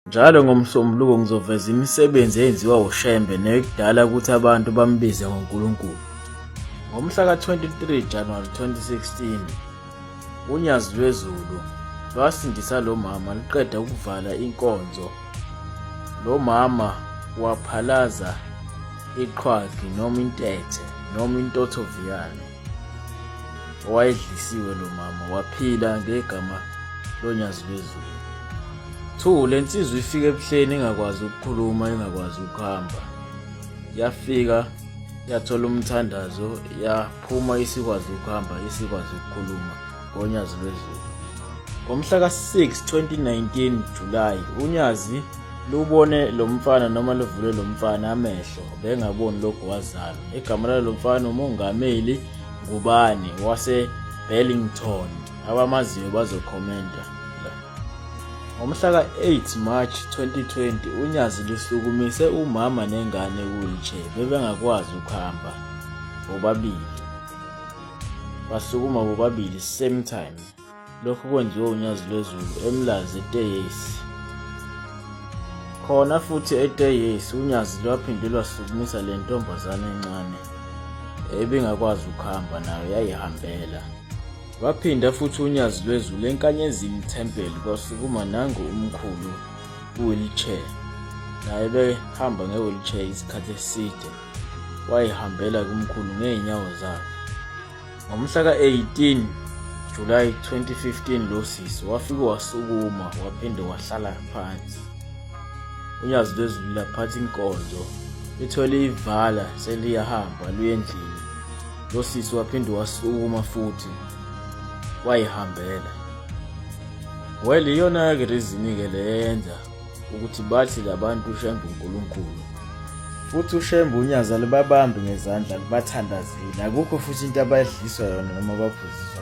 Njalo ngomsombuluko ngizoveza imisebenzi eyenziwa uShembe nekudala ukuthi abantu bambize ngoNkulunkulu. Ngomhla ka-23 January 2016, uNyazi lweZulu lwasindisa lo mama luqeda ukuvala inkonzo. Lo mama waphalaza iqhwagi noma intethe noma intothoviyane. owayedlisiwe lo mama waphila ngegama lonyazi lwezulu two le nsizwa ifike ebuhleni ingakwazi ukukhuluma ingakwazi ukuhamba yafika yathola umthandazo yaphuma isikwazi ukuhamba isikwazi ukukhuluma ngoNyazi Lwezulu. Ngomhla ka-6 2019 July uNyazi lubone lo mfana noma luvule lo mfana amehlo bengaboni lokhu wazalwa. Igama lalo mfana uMongameli Ngubane wase-Burlington. Abamaziyo bazokhomenta. Ngomhla ka-8 March 2020 uNyazi lusukumise umama nengane wheelchair bebengakwazi ukuhamba bobabili. basukuma bobabili same time lokhu kwenziwe unyazi lwezulu emlazi eteyesi khona futhi eteyesi unyazi lwaphinde lwasukumisa le ntombazane encane ebingakwazi ukuhamba nayo yayihambela waphinda futhi unyazi lwezulu enkanyezini thempeli kwasukuma nangu umkhulu wheelchair naye behamba nge-wheelchair isikhathi eside wayihambela kumkhulu ngeenyawo zakhe. Ngomhla ka-18 July 2015 lo sisi wafike wasukuma waphinde wahlala phansi. Unyazi lwezulu laphatha inkonzo lithole ivala seliyahamba luyendlini. Lo sisi waphinde wasukuma futhi wayihambela. Well iyona-ke reason-ke le yenza ukuthi bathi labantu uShembe uNkulunkulu futhi uShembe unyaza libabambe ngezandla libathandazile akukho futhi into abayidliswa yona noma baphuziswa